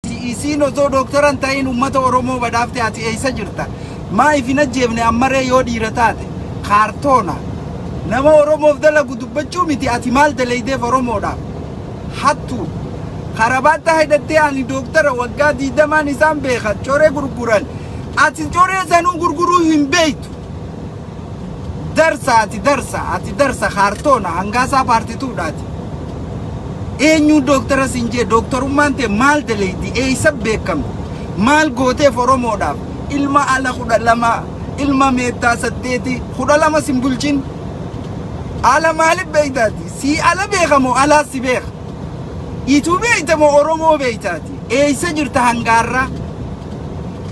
Ati isiin osoo dooktara hin ta'iin uummata Oromoo badhaafte ati eessa jirta? Maaf hin ajjeefne ammaree yoo dhiira taate? Kaartoona. Nama Oromoof dalagu dubbachuu miti ati maal dalaydeef Oromoodhaaf? Hattuu. Karabaatta hidhattee ani dooktara waggaa diidamaan isaan beeka coree gurguran. Ati coree sanuu gurguruu hin beektu. Darsa ati darsa ati darsa kaartoona hangaasaa paartituudhaati. Eenyuu dooktara siin jee dooktarummaan tee maal daleeydi eeysa beekamti maal gooteef oromoodhaaf ilma ala kudha lama ilma meettaa saddeeti kudha lama sin bulchin ala maalif beeytaati sii ala beeka moo alaas si beeka ituu beeyta moo oromoo beeytaati. Eessa jirta hanga har'aa?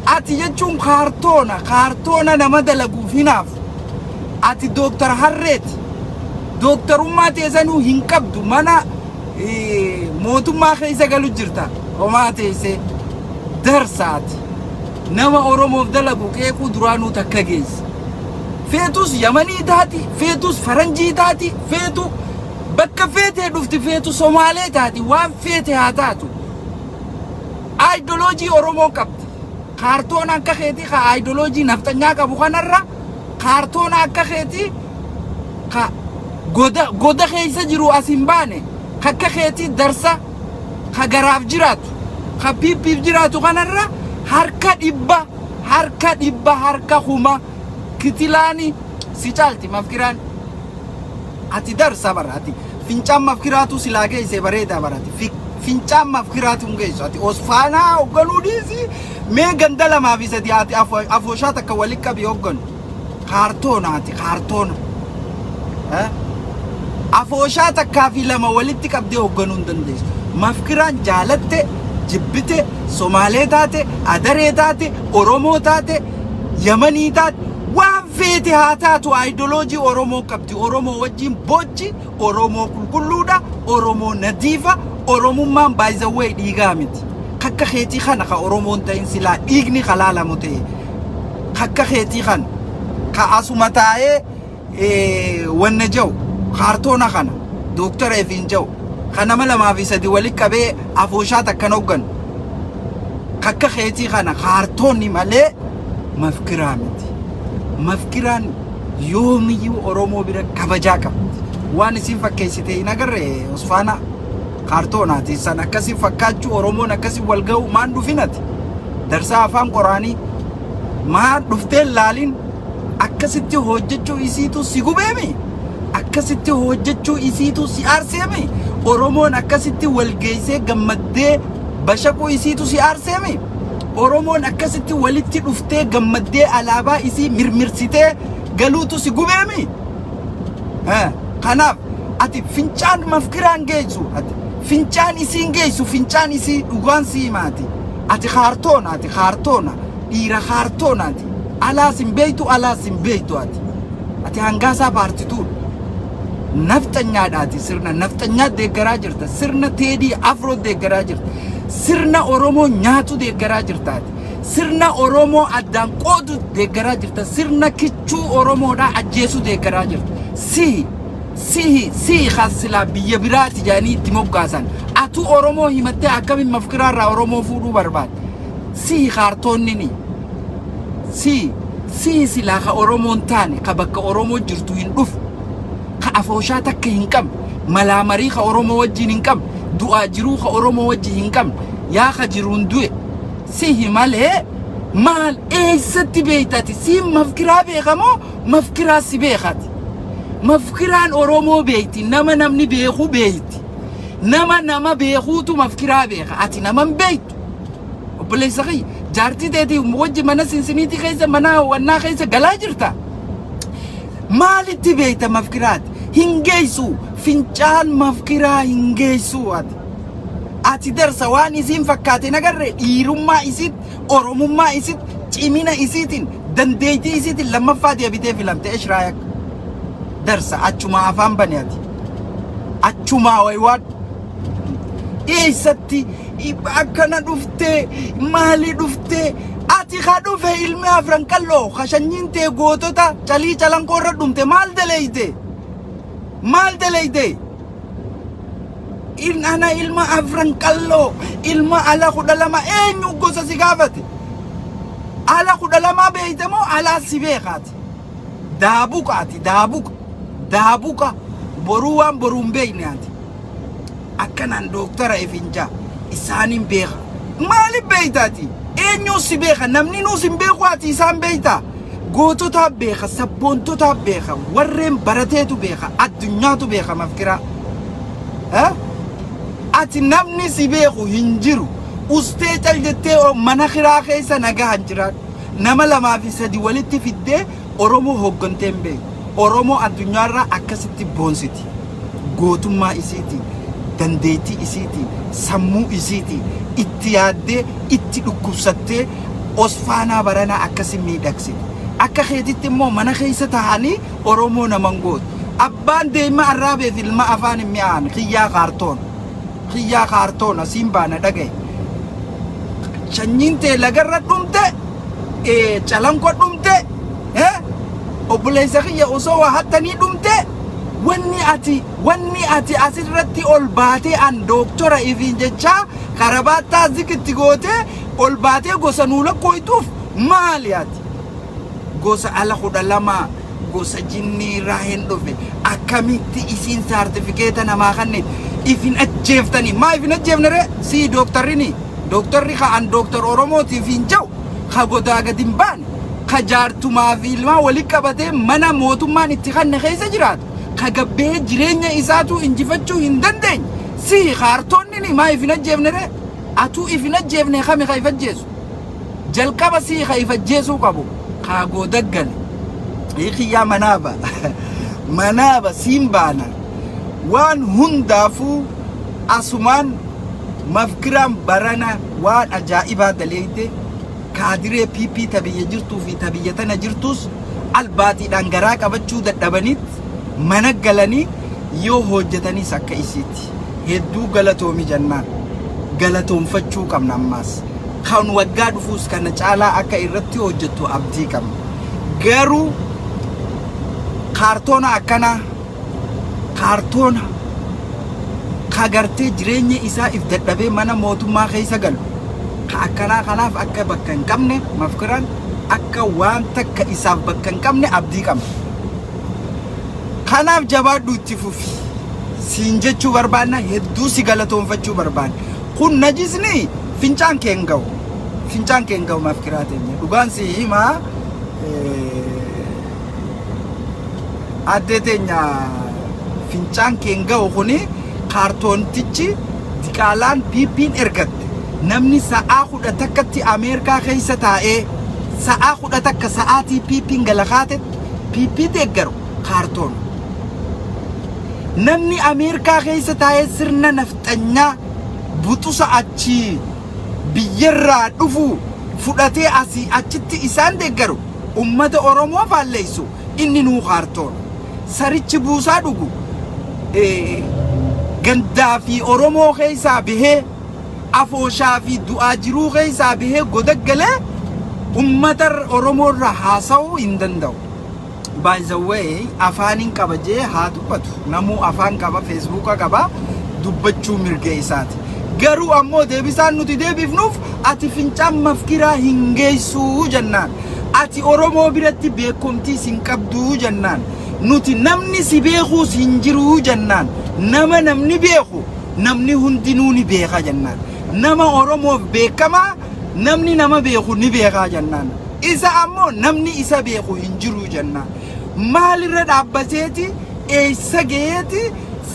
Ati jechuun kaartoona, kaartoona nama dalaguuf hinaafu. Ati Dooktar Harreeti. Dooktarummaa teesanuu hin qabdu. Mana eh, mootummaa keessa galu jirta. Homaa teessee. Darsaati. Nama Oromoof dalagu qeequu duraanuu takka geesse. Feetus Yamanii taati, feetus Faranjii taati, feetu bakka feetee dhufti, feetu Somaalee taati, waan feete haa taatu. Aayidoloojii Oromoon qabdi. Kaartoona akka keetii ka aayidoloojii nafxanyaa qabu kanarra kaartoona akka keetii ka goda goda keessa jiru as hin baane ka akka keetii darsa ka garaaf jiraatu ka piippiif jiraatu kanarra harka dhibba harka dhibba harka kuma kitilaani si caalti mafkiraan. Ati darsa bar ati fincaan maf kiraatuu silaa geessee bareedaa bar ati fi fincaan maf kiraatuu hin geessu ati osfaanaa hogganuu dhiisi mee ganda lamaa fi sadii ati afo- afooshaa takka wali qabi hogganu kaartoona ati kaartoona Eh? afooshaa takkaa fi lama walitti qabdee hogganuu hin dandeessu mafkiraan jaalatte jibbite somaalee taate adaree taate oromoo taate Yamanii taate waan feete haa taatu aayidoloojii Oromoo qabdi. Oromoo wajjin boochi, Oromoo qulqulluudha, Oromoo nadiifa, Oromummaan by the way dhiigaa miti. Kakka keetii kana ka Oromoon ta'in silaa dhiigni ka laalamu ta'e kakka keetii kana ka asuma taa'ee wanna jau kaartoona kana Dr. Efiin jau ka nama lamaa fi sadi wali qabee afooshaa takkan hogganu kakka keetii kana kaartoonni malee mafkiraa miti. Mafkiraan yoomiyyuu Oromoo bira kabajaa qabdi. Waan isin fakkeessite hin agarre Usfaana kaartoonaati san akkasi fakkaachuu Oromoon akkasi wal ga'u maan dhufinati. Darsaa afaan qoraanii maan dhufteen laaliin Akkasitti hoojjechuu isiituu si gubeemi? Akkasitti hoojjechuu isiituu si aarseemi? Oromoon akkasitti wal geessee gammaddee bashaquu isiitu si aarseemi? Oromoon akkasitti walitti dhuftee gammaddee alaabaa isii mirmirsitee galuutu si gubeemi? Eh, Kanaaf ati fincaan mafkiraan geessu ati fincaan isiin geessu fincaan isii dhugaan si himaati. Ati kaartoona ati kaartoona dhiira kaartoonaati. Alaas hin beektu alaas hin beektu ati. Ati hangaasaa paartituudha. Nafxanyaadha ati sirna nafxanyaa deeggaraa jirta. Sirna teedii afroo deeggaraa jirta. Sirna Oromoo nyaatu deeggaraa jirta ati. Sirna Oromoo addaan qoodu deeggaraa jirta. Sirna kichuu Oromoodhaa ajjeesu deeggaraa jirta. Sihi sihi sihi kan silaa biyya biraati jedhanii itti moggaasan. Atuu Oromoo himattee akkamiin mafkiraarraa Oromoo fuudhuu barbaadda? Sihi kaartoonnini. Sii sii silaa ka oromoo hin taane ka bakka oromoo jirtu hin dhufu ka afooshaa takka hin qabne malaa marii ka oromoo wajjiin hin qabne du'aa jiruu ka oromoo wajji hin qabne yaa ka jiruun du'e sihi malee maal eeysatti beeytati siin mafkiraa beeka moo mafkiraa si beekati mafkiraan oromoo beeyti nama namni beekuu beeyti nama nama beekuutu mafkiraa beeka ati naman beeytu obboleessa kiyya jaartii teetii wajji mana sinsiniitii keessa mana hawwannaa keessa galaa jirta maalitti beeyta mafkiraati hin geeysu fincaan mafkiraa hin geeysu ati ati darsa waan isiin fakkaate nagarre dhiirummaa isiit oromummaa isiit cimina isiitiin dandeeytii isiitiin lammaffaa deebitee filamte eshraayak darsa achumaa afaan bane ati achumaa waywaadhu eessatti akkana dhuftee maali dhuftee ati ka dhufe ilmi afran qalloo ka shanyiin tee gootota calii calankoo irra dhumte maal daleeyde maal daleeyde in ana ilma afran qalloo ilma ala kudha lama eenyu gosa si gaafate ala kudha lamaa beeyte moo alaa si beekaati daabuqaati daabuqa daabuqa boruu waan boruu hin beeyne ati akkanaan dooktara efinjaa isaaniin beeka maaliif beektaati eenyuun si beeka namni nuus hin beeku ati isaan beektaa goototaa beeka sabboontotaa beeka warreen barateetu beeka addunyaatu beeka mafkiraa Eh? ati namni si beeku hin jiru ustee cal jettee o- mana kiraa keessa nagahan jiraadhu nama lamaa fi sadi walitti fiddee Oromoo hooggantee hin beektu. Oromoo addunyaa irraa akkasitti boonsiti. Gootummaa isiitiin, dandeettii isiitiin, sammuu isiitiin itti yaaddee, itti dhukkubsattee Osfaanaa baranaa akkasi miidhagsite. Akka keetitti immoo mana keessa taa'anii Oromoo nama hin gootu. Abbaan deeyma arraabee fi ilma afaan hin mi'aane kiyyaa kaartoon. Kiyyaa kaartoon asiin baana dhagaye. Sanyiin tee lagarra dhumte, eh, calanqo dhumte, eh, obboleessa kiyya osoo waa hattanii dhumte, wanni ati, wanni ati asirratti ol baatee an dooktora ifiin jechaa karabaattaa zikitti gootee ol baatee gosa nuu lakkooytuuf maali ati? gosa ala kudha lama gosa jinnii irraa hin dhufe akkamitti isiin saartifikeeta namaa kanne ifin ajjeeftanii maa ifin ajjeefne ree sii dooktarrini dooktarri ka an dooktar oromootiif hin jau ka godaa gad hin baane ka jaartumaa fi ilmaa wali qabatee mana mootummaan itti kanne keessa jiraatu ka gabbee jireenya isaatuu injifachuu hin dandeenye sii kaartoonni maa ifin ajjeefne ree atuu ifin ajjeefne kami ka if ajjeesu Jalqaba sii ka if ajjeesuu qabu kaa gooda gale Hii kiyyaa manaa ba manaa ba siin baana waan hundaafuu asumaan mafkiraan barana waan ajaa'ibaa daleeyde kaadiree pp ta biyya jirtuu fi ta biyya tana jirtuus albaatiidhaan garaa qabachuu dadhabaniit mana galanii yoo hoojjataniis akka isiit Ati hedduu galatoomi jennaan galatoomfachuu qabna ammaas. Kan waggaa dhufuus kana caalaa akka irratti hojjettu abdii qabna. Garuu kaartoona akkanaa kaartoona ka gartee jireenya isaa if dadhabee mana mootummaa keessa galu ka akkanaa kanaaf akka bakka hin qabne mafkiraan akka waan takka isaaf bakka hin qabne abdii qabna. Kanaaf jabaadhu itti fufi. Siin jechuu barbaanna hedduu si galatoonfachuu barbaanna. Kun najisni fincaan keen ga'u. Fincaan keen ga'u maaf kiraa teenya. Dhugaan si himaa addee teenya fincaan keen ga'u kuni kaartoontichi diqaalaan piippiin ergatte. Namni sa'aa kudha takkatti Ameerikaa keessa taa'ee sa'aa kudha takka sa'aatii piippiin gala kaatetti PP deeggaru kaartoon. Namni Ameerikaa keessa taa'ee sirna nafxanyaa butusa achii biyyarraa dhufu fudhatee asii achitti isaan deeggaru ummata Oromoo faalleessu inni nuu kaartoon. Sarichi buusaa dhugu gandaa fi Oromoo keessaa bahee afooshaa fi du'aa jiruu keessaa bahee godaggalee ummata Oromoo irraa haasa'uu hin danda'u. By the way afaanin qaba jee haa dubbatu namuu afaan qaba feesbuuka qaba dubbachuu mirga isaati. Garuu ammoo deebisaan nuti deebifnuuf ati fincaan mafkiraa hin geessuu jennaan. Ati Oromoo biratti beekomtiis hin qabduu jennaan. Nuti namni si beekuus hin jiruu jennaan. Nama namni beeku Namni hundinuu ni beeka jennaan. Nama Oromoof beekamaa namni nama beeku ni beekaa jennaan. Isa ammoo namni isa beeku hin jiru jennaan. Maalirra dhaabbateeti eessa gaheeti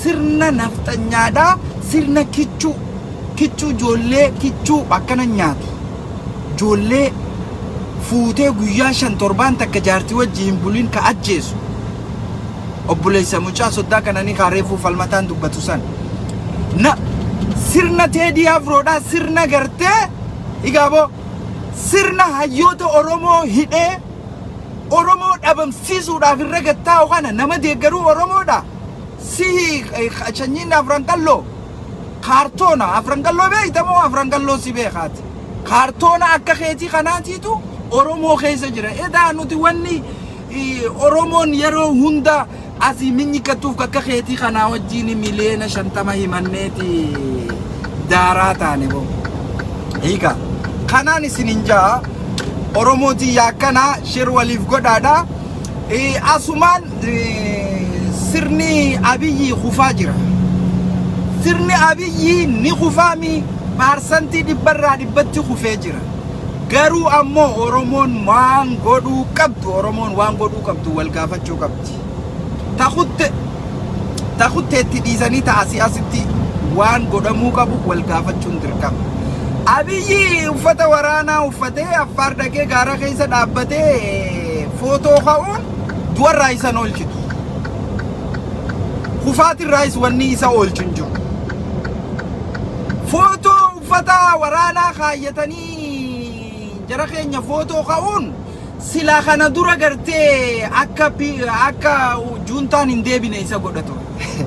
sirna nafxanyaadhaa sirna kichuu kichuu ijoollee kichuu akkana nyaati. Ijoollee fuutee guyyaa shan torbaan takka jaartii wajji hin bulin ka ajjeesu. obboleessa mucaa soddaa qananii kaa reefuu falmataan dubbatu san na sirna teedii afroodhaa sirna gartee igaaboo sirna hayyoota oromoo hidhee oromoo dhabamsiisuudhaaf irra gattaa'u kana nama deeggaruu oromoodha sihi chanyiin afran qalloo kaartoona afran qalloo beektamoo afran qalloo si beekaati kaartoona akka keetii kanaatiitu oromoo keessa jira edaa nuti wanni Oromoon yeroo hunda asii minyikkattuuf akka keetii kanaa wajjiin miliyeena shantama himanneeti daaraa taane boo. Hiika. Kanaan isin hin ja'a. Oromoo tiyya akkana shir waliif godhaadha. Eh, Asumaan eh, sirni abiyyii kufaa jira. Sirni abiyyii ni kufaami paarsantii dhibbarraa dhibbatti kufee jira. Garuu ammoo Oromoon maan godhuu qabdu Oromoon waan godhuu qabdu wal gaafachuu qabdi. Ta kutte ta kutteetti dhiisanii ta asii asitti waan godhamuu qabu wal gaafachuun dirqama. Abiyyi uffata waraanaa uffatee affaar dhaqee gaara keessa dhaabbatee footoo ka'uun du'arraa isa hin oolchitu. Kufaatirraayis wanni isa oolchu hin jiru. Footoo Uffata waraanaa kaayyatanii jara keenya footoo ka'uun silaa kana dura gartee akka akka juuntaan hin deebine isa godha ture.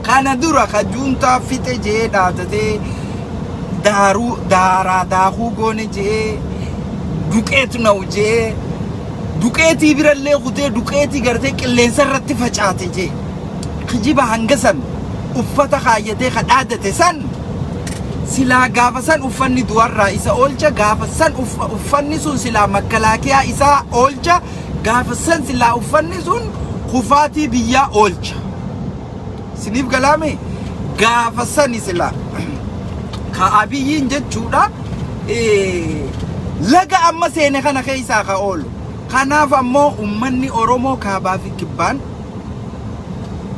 Kana dura ka juuntaa fixe je'ee dhaadatee daaruu daaraa daakuu goone je'ee duqeet na'u je'ee duqeetii birallee kutee duqeetii gartee qilleensa irratti facaate je'e. Kijiba hanga san uffata kaayyatee ka dhaadate san silaa gaafa san uffanni du'arraa isa oolcha gaafa san uffanni sun silaa makkalaakiyaa isaa oolcha gaafa san silaa uffanni sun kufaatii biyyaa oolcha siniif galaame gaafa sani silaa ka abiyyiin jechuudha laga amma seene kana keessaa ka oolu kanaaf ammoo ummanni oromoo kaabaa fi kibbaan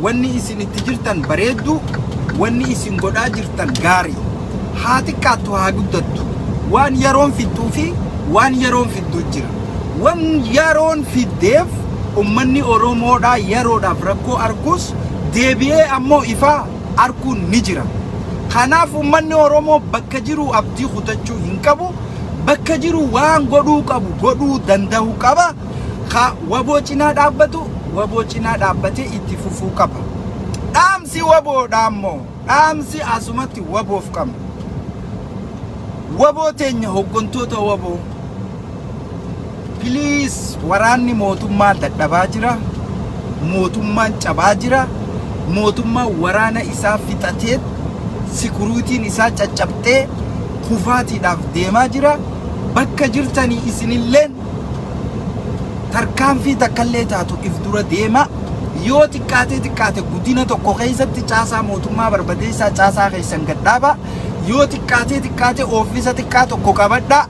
Wanni isin itti jirtan bareedduu, wanni isin godhaa jirtan gaarii. Haa xiqqaattu haa guddattu. Waan yeroon fixxuu fi waan yeroon fidduu jira. Wan yeroon fiddeef ummanni Oromoodhaa yeroodhaaf rakkoo arguus deebi'ee ammoo ifaa arguun ni jira. Kanaaf ummanni Oromoo bakka jiruu abdii kutachuu hin qabu. Bakka jiruu waan godhuu qabu godhuu danda'uu qaba. Ka waboo cinaa dhaabbatu waboo cinaa dhaabbatee itti fufuu qaba. Dhaamsi waboodha ammoo dhaamsi asumatti waboof qabnu. Waboo teenya hoggantoota waboo piliis waraanni mootummaa dadhabaa jira. Mootummaan cabaa jira. Mootummaan waraana isaa fixatee sikuruutiin isaa caccabxee kufaatiidhaaf deemaa jira. Bakka jirtanii isinilleen tarkaanfii takkallee taatu if dura deema yoo xiqqaatee xiqqaate guddina tokko keessatti caasaa mootummaa barbadeessaa caasaa keessan gadhaaba yoo xiqqaatee xiqqaate oofisa xiqqaa tokko qabadha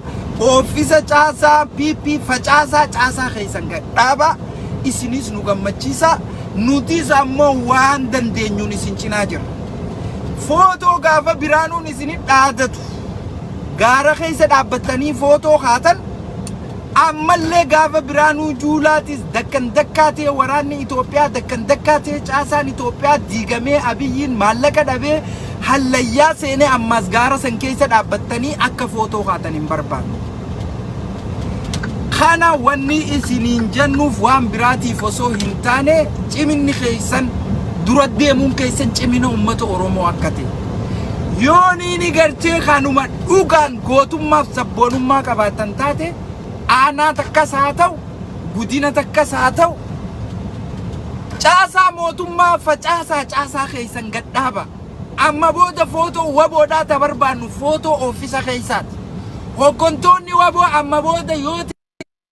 oofisa caasaa PP facaasaa caasaa keessan gadhaaba isinis nu gammachiisa nutis ammoo waan dandeenyuun isin cinaa jira footoo gaafa biraanuun isin dhaadatu gaara keessa dhaabbattanii footoo kaatan ammallee gaafa Biraanuu Juulaatis dakkan dakkaa ta'e waraanni Itoophiyaa dakkan dakkaa ta'e caasaan Itoophiyaa diigamee Abiyyiin maallaqa dhabee hallayyaa seenee ammaas gaara san keessa dhaabbattanii akka footoo kaatan hin barbaannu. Kana wanni isiniin jennuuf waan biraatiif osoo hin taane ciminni keessan dura deemuun keessan cimina uummata Oromoo akka ta'e. Yoo niini garchee kanuma dhugaan gootummaaf sabboonummaa qabaatan taate aanaa takkas haa ta'u gudina takkas haa ta'u caasaa mootummaa facaasaa caasaa keessan gadhaaba. Amma booda footoo waboodhaa ta barbaannu footoo oofisa keessaati. Hoggontoonni waboo amma booda yoo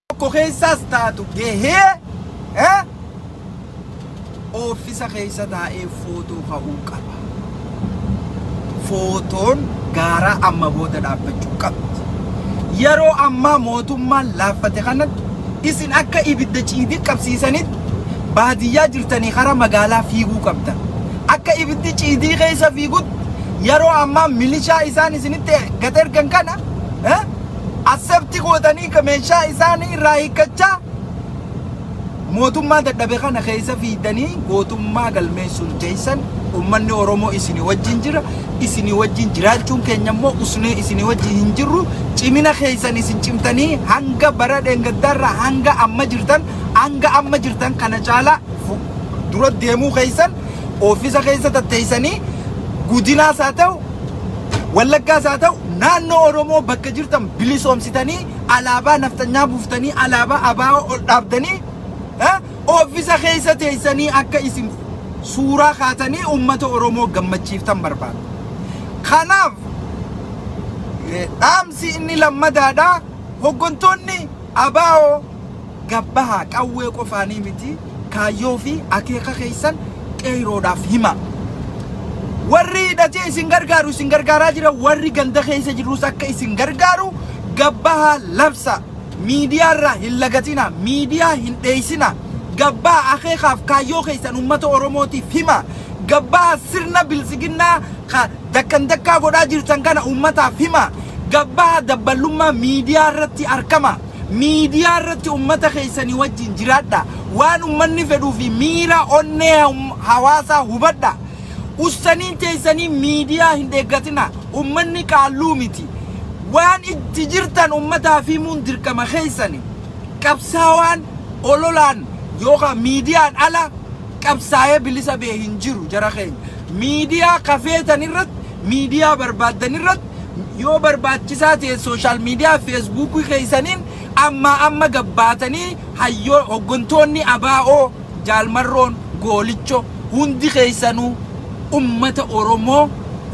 Tokko keessaas taatu gahee eh, oofisa keessa taa'ee footoo ka'uu qaba. Footoon gaaraa amma booda dhaabbachuu qabdi. Yeroo ammaa mootummaan laaffate kanatti isin akka ibidda ciidii qabsiisanitti baadiyyaa jirtanii karaa magaalaa fiiguu qabdan. Akka ibiddi ciidii keessa fiigutti yeroo ammaa milishaa isaan isinitti gad ergan kana eh, Accept gootanii ka meeshaa isaanii irraa hiikkachaa mootummaa dadhabe kana keessa fiidanii gootummaa galmeessuun teessan ummanni Oromoo isinii wajjin jira. Isinii wajjin jiraachuun keenya immoo usnee isinii wajjin hin jirru. Cimina keessan isin cimtanii hanga bara dheengaddaarraa hanga amma jirtan hanga amma jirtan kana caalaa fu- dura deemuu keessan Oofisa keessa tatteessanii gudinaas haa ta'u wallaggaas haa ta'u naannoo Oromoo bakka jirtan bilisoomsitanii alaabaa nafxanyaa buuftanii alaabaa abaa'oo ol dhaabdanii eh, oofisa keessa teessanii akka isin suuraa kaatanii uummata Oromoo gammachiiftan barbaada. Kanaaf eh, dhaamsi inni lammadaadha hoggantoonni abaa'oo gad bahaa qawwee qofaanii miti kaayyoo fi akeeka keessan qeeyroodhaaf himaa. Warri hidhatee isin gargaaru isin gargaaraa jira warri ganda keessa jirus akka isin gargaaru gad bahaa labsa. Miidiyaa irraa hin lagatina miidiyaa hin dheessina gad bahaa akeekaaf kaayyoo keessan uummata Oromootiif himaa. Gad bahaa sirna biltsiginnaa ka dakkan dakkaa godhaa jirtan kana uummataaf himaa. Gad bahaa dabballummaa miidiyaa irratti arkamaa. Miidiyaa irratti ummata keessanii wajjin jiraadhaa. Waan ummanni fedhuu fi miira onnee hawaasaa hubadhaa. Ussaniin teessanii miidiyaa hin dheeggatinaa. Ummanni qaalluu miti. Waan itti jirtan ummataaf himuun dirqama keessani. Qabsaawaan ololaan yookaan miidiyaan ala qabsaa'ee bilisa bee hin jiru jara keenya. Miidiyaa kafeetan irratti, miidiyaa barbaaddan irratti, yoo barbaachisaa ta'e sooshaal miidiyaa feesbuukii keessaniin ammaa amma gabbaatanii hayyoo hoggantoonni abaa'oo jaalmarroon goolicho hundi keessanuu ummata Oromoo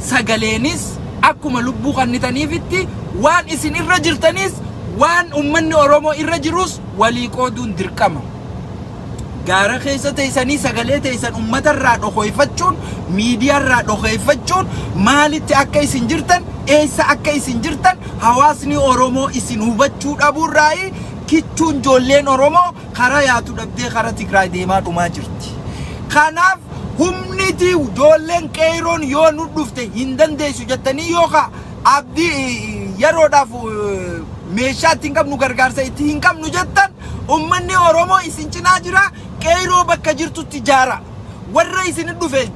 sagaleenis akkuma lubbuu kannitaniifitti waan isin irra jirtaniis waan ummanni Oromoo irra jiruus walii qooduun dirqama. gaara keessa teessanii sagalee teessan ummata irraa dhokoyfachuun miidiyaa irraa dhokeeffachuun maalitti akka isin jirtan eessa akka isin jirtan hawaasni Oromoo isin hubachuu dhabuu irraayi kichuun joolleen Oromoo karaa yaatu dhabdee karaa Tigraay deemaa dhumaa jirti. Kanaaf humniti joolleen qeeyroon yoo nu dhufte hin dandeessu jettanii yoo ka abdii yeroodhaaf meeshaa ittiin qabnu gargaarsa itti hin qabnu jettan Ummanni Oromoo isin cinaa jira, Qeeyroo bakka jirtutti jaaraa. Warra isin dhufe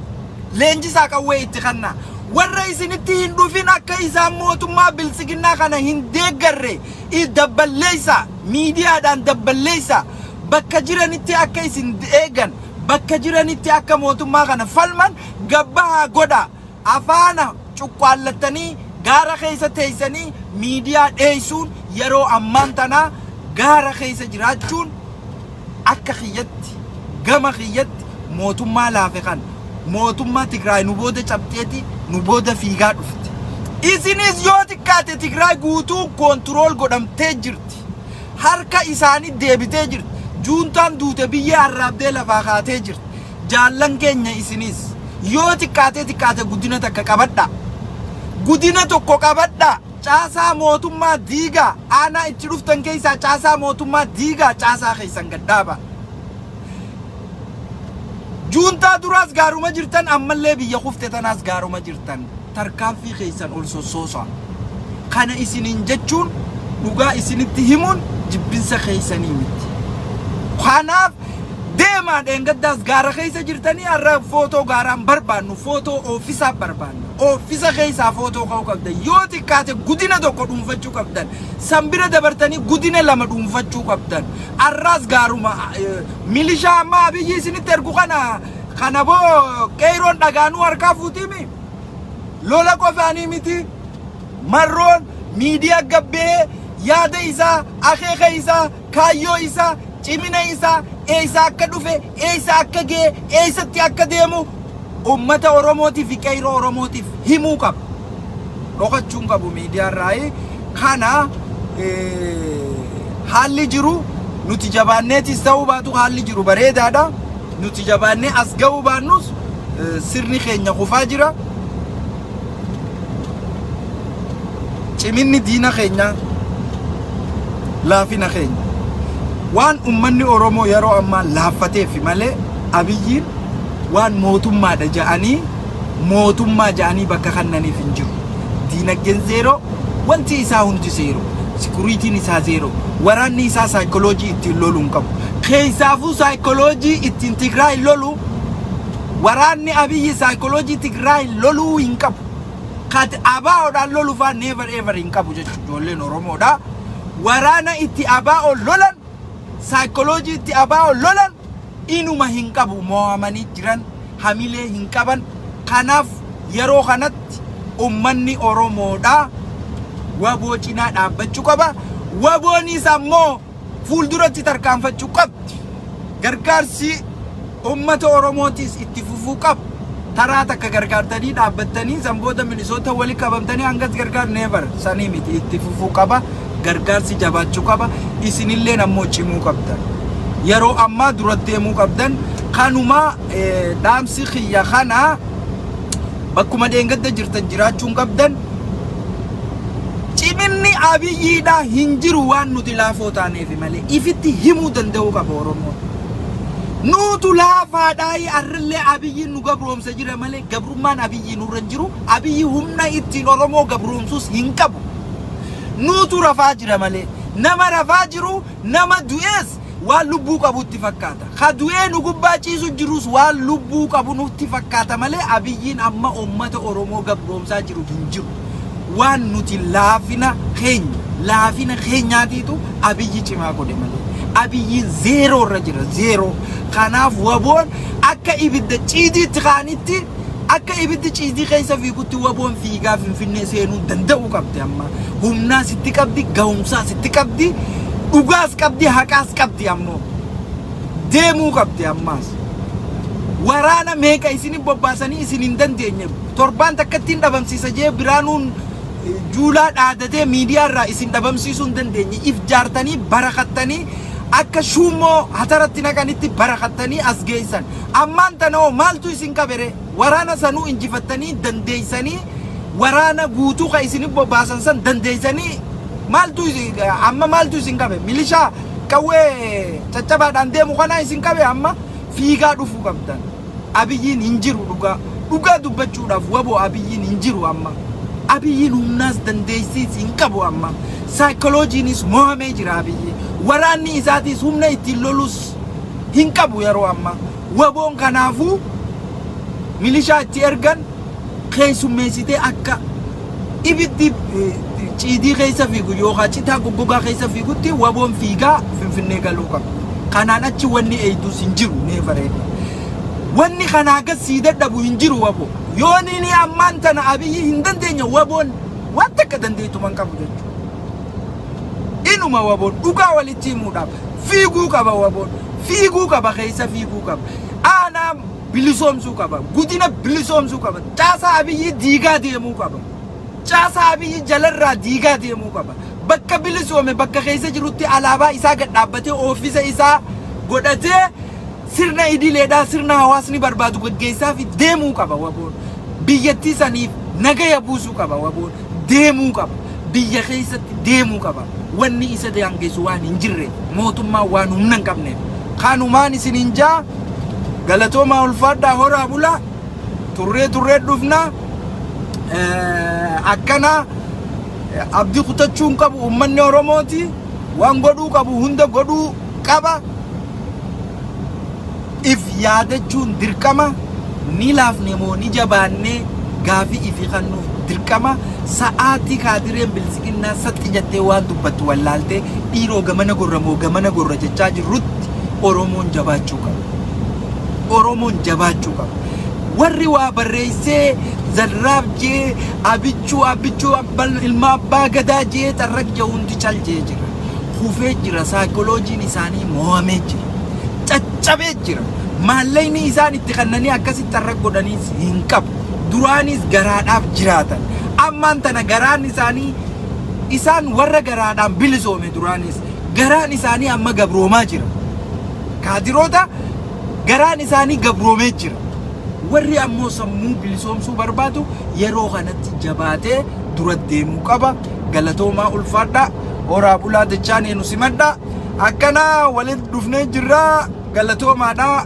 leenjisaa qawwee itti kannaa. Warra isinitti hin dhufin akka isaan mootummaa biltsiginnaa kana hin deeggarre dabballeessaa, miidiyaadhaan dabballeessaa. Bakka jiranitti akka isin eegan, bakka jiranitti akka mootummaa kana falman gabbahaa godhaa. Afaana cuqqaallattanii gaara keessa teessanii miidiyaa dheessuun yeroo ammaan tanaa gaara keessa jiraachuun akka kiyyatti gama kiyyatti mootummaa laafe kan mootummaa Tigraay nu booda cabxeeti nu booda fiigaa dhufte. Isinis yoo xiqqaate Tigraay guutuu koontirool godhamtee jirti. Harka isaanii deebitee jirti. Juuntaan duute biyyee arraabdee lafaa kaatee jirti. Jaallan keenya isinis yoo xiqqaatee xiqqaate guddina takka qabadha. Gudina tokko qabadha. Caasaa mootummaa diigaa aanaa itti dhuftan keessaa caasaa mootummaa diigaa caasaa keessan gad dhaaba. Juuntaa duraas gaaruma jirtan ammallee biyya kufte tanaas gaaruma jirtan tarkaanfii keessan ol sossoosa. Kana isiniin jechuun dhugaa isinitti himuun jibbinsa keessanii miti. Kanaaf Deemaa dheengaddaas gaara keessa jirtanii har'a footoo gaaraa hin barbaannu footoo ooffisaa barbaanna. Ooffisa keessaa footoo ka'uu qabdan. Yoo xiqqaate gudina tokko dhuunfachuu qabdan. San bira dabartanii gudina lama dhuunfachuu qabdan. Har'aas gaaruma eh, milishaa ammaa abiyyi isinitti ergu kana kana boo qeeyroon dhagaanuu harkaa fuutiimi. Lola qofaanii miti. Marroon miidiyaa gabbee yaada isaa akeeka isaa kaayyoo isaa, cimina isaa, eessaa akka dhufe, eessa akka ga'e, eessatti akka deemu ummata Oromootii fi qeyroo Oromootiif himuu qaba. Dhokachuu hin qabu miidiyaarraayi. Kana haalli jiru nuti jabaanneetis ta'uu baatu haalli jiru bareedaadha. Nuti jabaannee as ga'uu baannus sirni keenya kufaa jira. Ciminni diina keenyaa laafina keenya. Waan ummanni Oromoo yeroo ammaa laaffateef malee Abiyyiin waan mootummaadha ja'anii mootummaa ja'anii bakka kannaniif hin jiru. Diinagdeen zeeroo, wanti isaa hundi zeeroo. Sikuriitiin isaa zeeroo. Waraanni isaa saayikoloojii ittiin lolu hin qabu. Keessaafuu saayikoloojii ittiin Tigraay lolu Waraanni Abiyyi Psychology Tigraayin loluu hin qabu. Kat ABOdhaan lolu faa never ever hin qabu jechu ijoolleen Oromoodha. Waraana itti ABO lolan, psychology itti ABO lolan inuma hin qabu moo'amanii jiran hamilee hin qaban. Kanaaf yeroo kanatti ummanni Oromoodha waboo cinaa dhaabbachuu qaba. Waboonis ammoo fuulduratti tarkaanfachuu qabdi. Gargaarsi uummata Oromootiis itti fufuu qaba. Taraa takka gargaartanii dhaabbattanii san booda Minisoota wali qabamtanii hangas gargaar neevar sanii miti itti fufuu qaba. Gargaarsi jabaachuu qaba. Isinilleen ammoo cimuu qabdan. Yeroo ammaa dura deemuu qabdan. Kanuma dhaamsi kiyya kana bakkuma dheengadda jirtan jiraachuun qabdan. Ciminni Abiyyiidha hin jiru waan nuti laafoo taaneefi malee ifitti himuu danda'uu qaba Oromoon. Nuutu laafaadhaayi arrillee Abiyyiin nu gabroomsa jira malee gabrummaan Abiyyii nurra hin jiru, Abiyyi humna ittiin Oromoo gabroomsus hin qabu. Nuutu rafaa jira malee. Nama rafaa jiru, nama du'ees waan lubbuu qabu itti fakkaata. Ka du'ee nu gubbaa ciisu jirus waan lubbuu qabu nutti fakkaata malee Abiyyiin amma uummata Oromoo gabroomsaa jiru hin jiru. Waan nuti laafina keenya laafina keenyaatiitu Abiyyi cimaa godhe malee. Abiyyiin zeeroo irra jira zeeroo. Kanaaf waboon akka ibidda ciidiitti kaanitti Akka ibiddi ciisii keessa fiigutti waboon fiigaa Finfinnee seenuu danda'uu qabdi amma. Humnaa sitti qabdi, gahumsaa sitti qabdi, dhugaas qabdi, haqaas qabdi ammoo. Deemuu qabdi ammaas. Waraana meeqa isinin bobbaasanii isin hin dandeenye. Torbaan takkatti hin dhabamsiisa jee biraanuun juulaa dhaadatee miidiyaa irraa isin dhabamsiisuu hin dandeenye. If jaartanii barakattanii akka shuummoo hataratti naqanitti barakattanii as geessan. Ammaan tana hoo maaltu isin qabe ree? Waraana sanuu injifattanii dandeessanii waraana guutuu kan isin bobbaasan san dandeessanii maaltu amma maaltu isin qabe? Milishaa qawwee caccabaadhaan deemu kanaa isin qabe amma fiigaa dhufuu qabdan. Abiyyiin hin jiru dhugaa. Dhugaa dubbachuudhaaf waboo abiyyiin hin jiru amma. Abiyyiin humnaas dandeessiis hin qabu amma. Saayikolojiinis mohamee jira abiyyi. Waraanni isaatiis humna ittiin lolus hin qabu yeroo ammaa. Waboon kanaafuu milishaa itti ergan keessummeessitee akka ibiddi ciidii keessa fiigu yookaan citaa goggogaa keessa fiigutti waboon fiigaa finfinnee galuu qaba. Kanaan achi wanni eeyduus hin jiru mee bareeda. Wanni kanaa gad sii dadhabu hin jiru waboo. Yoo nini ammaan tana abiyyi hin dandeenye waboon waan takka dandeettu man qabu jechuudha. inuma wabon dhugaa walitti himuudhaaf fiiguu qaba wabon fiiguu qaba keessa fiiguu qaba aanaa bilisoomsuu qaba gudina bilisoomsuu qaba caasaa abiyyii diigaa deemuu qaba caasaa abiyyii jalarraa diigaa deemuu qaba bakka bilisoome bakka keessa jirutti alaabaa isaa gad dhaabbatee oofisa isaa godhatee sirna idileedhaa sirna hawaasni barbaadu gaggeessaa fi deemuu qaba waboon biyyattii saniif nagaya buusuu qaba waboon deemuu qaba. Biyya keessatti deemuu qaba. Wanni isa daangessu waan hin jirreef, mootummaan waan humna hin qabneef. Kanumaan isiniin jaa galatoomaa ulfaadhaa horaa bulaa turree turree dhufnaa akkanaa abdii kutachuun qabu ummanni Oromooti waan godhuu qabu hunda godhuu qaba. If yaadachuun dirqama. Ni laafne moo ni jabaanne gaafii ifi kannuuf dirqama. Sa'aatii kaadireen biltsiginnaa saxxi jettee waan dubbattu wallaaltee dhiiroo gamana gorra moo gamana gorra jechaa jirrutti Oromoon jabaachuu qaba. Oromoon jabaachuu qaba. Warri waa barreessee Zalraab jee Abichuu Abichuu abbal ilma abbaa gadaa jee xarraq jee hundi cal jee jira. kufee jira saayikolojiin isaanii mo'amee jira caccabee jira maallaqni isaan itti kannanii akkasitti har'a godhaniis hin qabu duraanis garaadhaaf jiraatan ammaan tana garaan isaanii isaan warra garaadhaan bilisoome duraanis garaan isaanii amma gabroomaa jira kaadiroota garaan isaanii gabroomee jira warri ammoo sammuu bilisoomsuu barbaadu yeroo kanatti jabaatee dura deemuu qaba galatoomaa ulfaadhaa horaa bulaa dachaanee nu simadhaa akkanaa walitti dhufnee jirraa galatoomaadhaa